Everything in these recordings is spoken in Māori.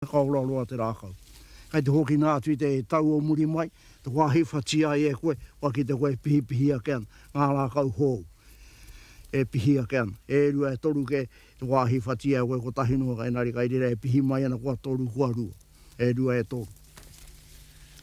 Whakaora roa te rākau. Kei te hokina atu i te tau o muri mai, te wāhi whati ai e koe, kua kite koe e pihipihi ake ana, ngā rākau hou e pihi ake ana, e rua, e toru kē, te wāhi whati ai e koe kotahi noa, engari kei reira e pihi mai ana kua toru, kua rua, e rua, e toru.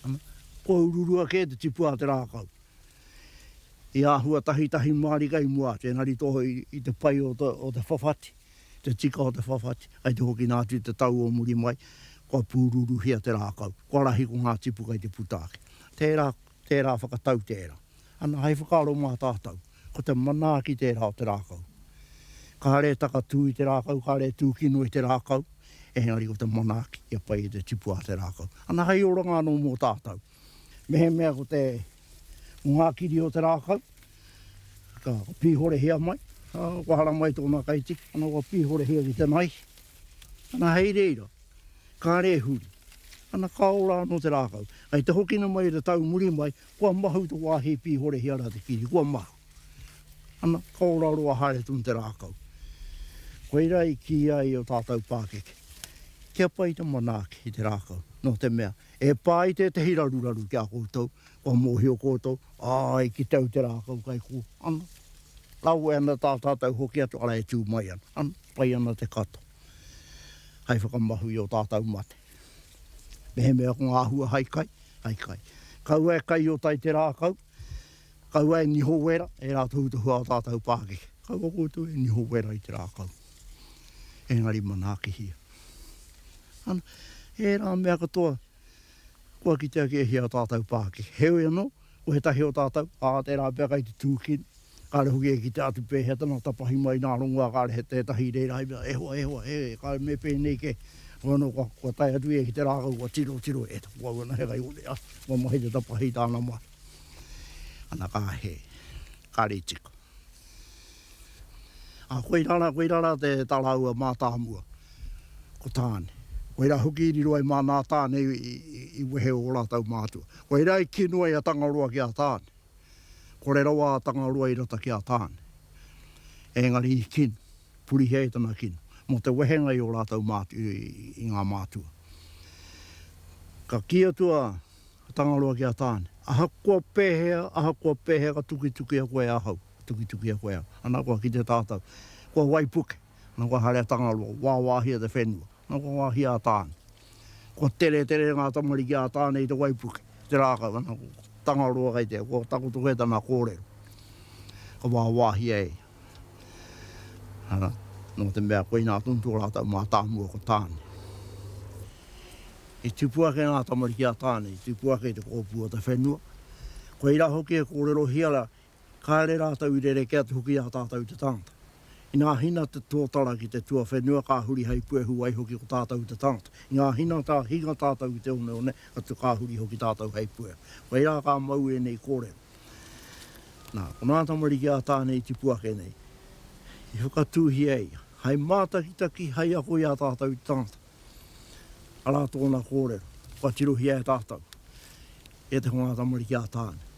Ana, kua ururua kē te tipu a te rākau. I āhua tahitahi mārika i mua atu, engari tō i te pai o te whawhati. Te tika o te whawhati, kei te hoki nā atu i te tau o muri mai, kua pūruruhia te rākau, kua rahi ko ngā tipu kei te puta ake. Tērā, tērā whakatau tērā. Ana, hei whakaaro mā tātou, ko te manaaki tērā o te rākau. Kāre e takatū i te rākau, kāre e tūkino i te rākau, engari ko te manaaki kia pai i te tipu a te rākau. Ana, hei oranga anō mō tātou. Mehemea ko te ngā kiri o te rākau, ka pīhorehia mai, ā, kua haramai tōna kaitiki, ana kua pīhorehia ki te naihi, ana hei reira, kāre huri, ana ka ora anō te rākau. Hei te hokina mai i te tau muri mai, kua mahu te wāhi e pīhorehia ana te kiri, kua mahu, ana ka ora roa haere tonu te rākau. Koirā i kīia ai ō tātou pākeke, kia pai te manaaki i te rākau, nō te mea, E pā i tētehi raruraru ki a koutou, kua mōhio koutou, āe, ki te au te rākau kai kō, ana, kawe ana tā tātou hoki atu, arā, e tū mai ana, ana, pai ana te katoa hai whakamahu i ō tātou mate. Mehemea ko ngā hua hai kai, hai kai. Kaua e kai o tai te rākau, kaua e niho wera e rā tohutohu a ō tātou pākeke. Kaua koutou e niho wera i te rākau. engari manaakihia. Ana, ērā mea katoa, kua kitea ki ēhea o tātou Pākehā. Heoi anō, ko he tahi o tātou, ā, tērā pea kai te tūkino, kāre hoki e kitea atu pēhea tana tapahi mai nā rongoā kāre he tētahi reira i mea, e hoa, e hoa, e, kāre me pēnei kē. Heoi anō, kua, kua tae atu ia ki te rākau, kua tiro, tiro, e taku au ana he kaione, a, kua mahi te tapahi i tāna mahi. Ana, ka hē, kāre i tika. Ā, koirā rā, koirā rā te tā rāua mātāmua, ko Tāne. Koirā hoki i riro ai māna a Tāne i wehe ō rātou mātua. Koirā i kino ai a Tangaroa ki a Tāne. Kore rawa a Tangaroa i rata ki a Tāne. Ēngari i kino, purihia e tana kino, mō te wehenga i ō rātou mātua, i ngā mātua. Ka kī atu a Tangaroa ki a Tāne, Ahakoa pēhea, ahakoa pēhea ka tukitukia koe ahau. Tukitukia koe au. Ana koa ki te tātau. Kua waipuke. Ana kua haere a Tangaroa. Wāwāhia te whenua. Ana kua wāhia a Tāne. Kua tere tere ngā tamariki a Tāne i te waipuke, i te rākau. Ana ko Tangaroa kei te, kua takoto kē tana kōrero. Ka wāwāhia e ia. Ana, nō te mea koinā tonu tō rātau mātāmua ko Tāne. I tupu ake ngā tamariki a Tāne, i tupu ake i te kōpū o te whenua. Koirā hoki e kōrerohia kāre rātou i rerekē atu hoki i a tātou te tangata. Inā hina te tōtara ki te tuawhenua ka huri hei puehu waiho ki o tātou te tangata. Inā hina ka hinga tātou ki te oneone atu ka huri hoki tātou hei puehu. Whai rā ka mau ēnei kōrero. Nā, ko nā tamariki a Tāne i tipu ake nei, i whakatūhia ia, hai mātakitaki, hai ako i a tātou te tangata. Arā tōna kōrero, kua tirohia e tātou, e te hunga tamariki a Tāne.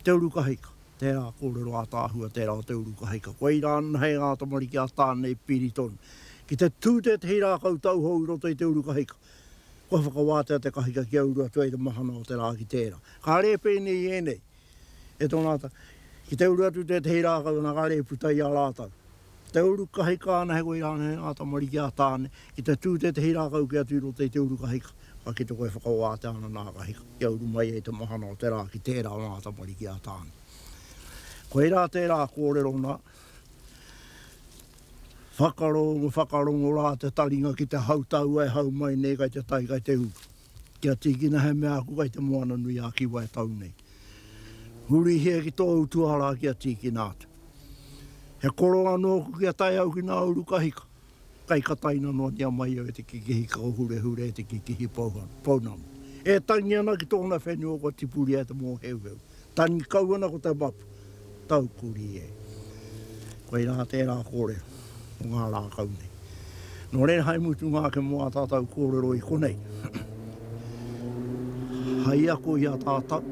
Te uru kahika, tērā kōrero ātaahua tērā o te uru kahika. Koirā nahe ngā tamariki a Tāne i piri tonu. Ki te tū tētehi rākau tauhou i roto i te uru kahika, kua whakawātea te kahika kia uru atu ai te mahana o te rā ki tērā. Ka rēpēnei ēnei, E tōna ata, ki te uru atu tētehi rākau ana kare i puta i a rātau. Ki te uru kahika ana he koira ana he ngā tamariki a Tāne, ki te tū tētehi rākau ki atu i roto i te uru kahika, ka kite koe e whakawātea ana nā kahika kia uru mai ai te mahana o te rā ki tērā o ngā tamariki a Tāne. Koirā tērā kōrero nā, Whakarongo, whakarongo rā te taringa ki te hautau e hau mai nei kai te tai kai te uru. Kia tīkina he mea aku kai te Moana nui a Kiwa e tau nei. Hurihia ki tōu tuarā kia tīkina atu. He koronga nōku kia tae au ki nā uru kahika, kai ka taina noatia mai au e te kekehi kao hurehure e te kekehi pounamu. E tangi ana ki tōna whenua kua tipuria e te mōheuheu, Tani kau ana ko te mapu, tau kurī e. Koirā tērā kōrero mō ngā rākau nei. Nō reira hai mutunga ake mō ā tātau kōrero i konei, hai ako i a tātau,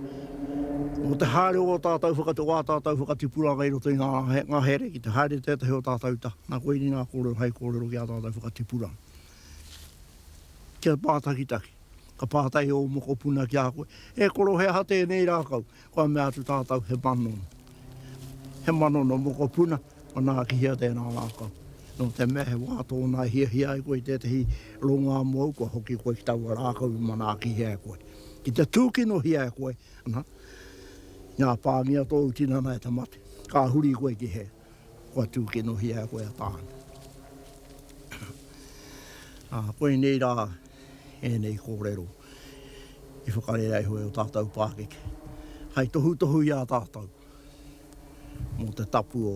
mō te haere o ō tātau whakatau, o ā tātau whakatipuranga i roto i ngā ngahere ki te haere tētahi o tātau taha. Nā, koiri ngā kōrero hai kōrero ki ā tātau whakatipuranga. Kia mātakitaki. Ka pātai ō mokopuna ki a koe, E koro, he aha tēnei rākau? Kua mea atu tātou, He manono. He manono mokopuna, manaaki hia tēnā rākau? Nō te mea he wā tōna e hiahia ai koe i tētahi rongo āmu au, kua hoki koe ki taua rākau i manaakihia e koe. Ki te tūkinohia e koe, nā, i ngā pāngia tōu tinana e te mate, ka huri koe ki hea? Kua tūkinohia e koe a Tāne. Ā, koinei rā ēnei kōrero i whakarea iho e ō tātou pākeke, hai tohutohu i a tātou mō te tapu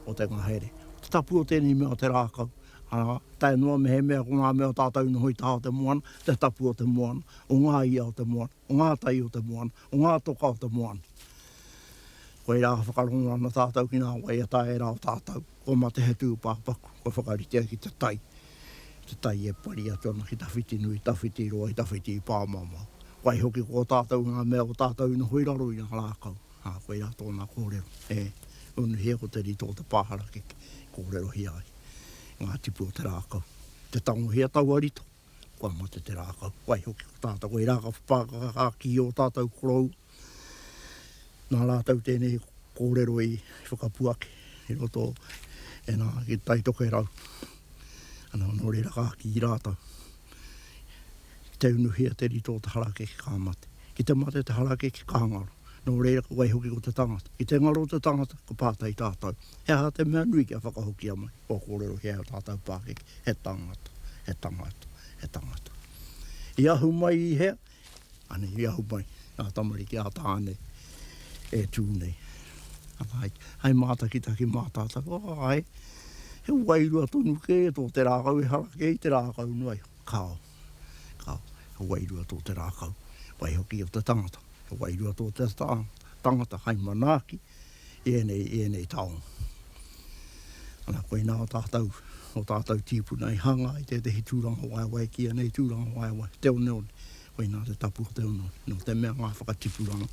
o te ngahere, te tapu o tēnei mea o te rākau, arā, tae noa mehemea ko ngā mea o tātou i noho i taha o te moana, te tapu o te moana, o ngā ia o te moana. o ngā tai o te moana, o ngā toka o te moana. Koirā ka whakarongo ana tātou ki ngā waiata e rā o tātou, kua mate he tūpāpaku, kua whakaritea ki te tai, te tai e pari atu ana ki tawhiti nui, tawhiti roa, tawhiti pāmamao. Waihoki ko tātou ngā mea o tātou i noho i raro i ngā rākau, ā, koirā tōna kōrero, e, unuhia ko te rito o te pā harakeke, kōrerohia ai ngā tipu o te rākau. Te tangohia taua rito. Kua mate te rākau, waihoki ko tātou hei rākau pākakaha ki ō tātou korou. Nā rātou tēnei kōrero i whakapuaki i roto e nā, ki Taitoke Rau. Anō, nō reira ka kī rātou, ki te unuhia te rito o te harakeke ka mate. Ki te mate te harakeke ka ngaro. Nō reira, waihoki ko te tangata. Ki te ngaro te tangata, ka pātai tātou, he aha te mea nui kia whakahokia mai kua kōrero he aha tātou pākeke. He tangata, he tangata, he tangata. I ahu mai i hea? Anei, i ahu mai i a tamariki, a tāne e tū nei. Hai, hai mātakitaki mātātaka, oh, hai, he wairua tonu kē tō te rākau ehara kē i te rākau noa iho. Kāo. Ka, he wairua tō te rākau, waihoki o te tangata. He wairua tō te tangata hai manaaki i ēnei, i ēnei taonga. Ana, koinā o tātou, o tātou tīpuna i hanga i tētehi tūranga waewae ki ēnei tūranga waewae, te oneone. Koinā te tapu o te oneone. Nō te mea ngā whakatipuranga,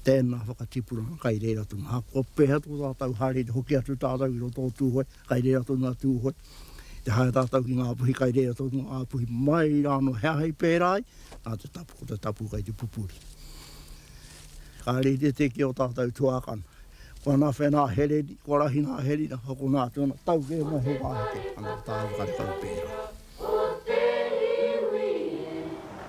tēnā whakatipuranga kai reira tonu. Ahakoa pēhea tō tātou haere i te hoki atu tātou i roto o Tūhoe, kai reira tonu a Tūhoe. Te haere tātou ki ngā puhi kai reira tonu ngā puhi mai rā anō he aha i pērā ai, nā te tapu, ko te tapu kai te pupuri. Kāre i te tē ki ō tātou tuākana. Ko ana whenā he reri, kua rahi nā he rira, hoko nā te ona tau kē mai he wāheke, anō tāu karekau pērā.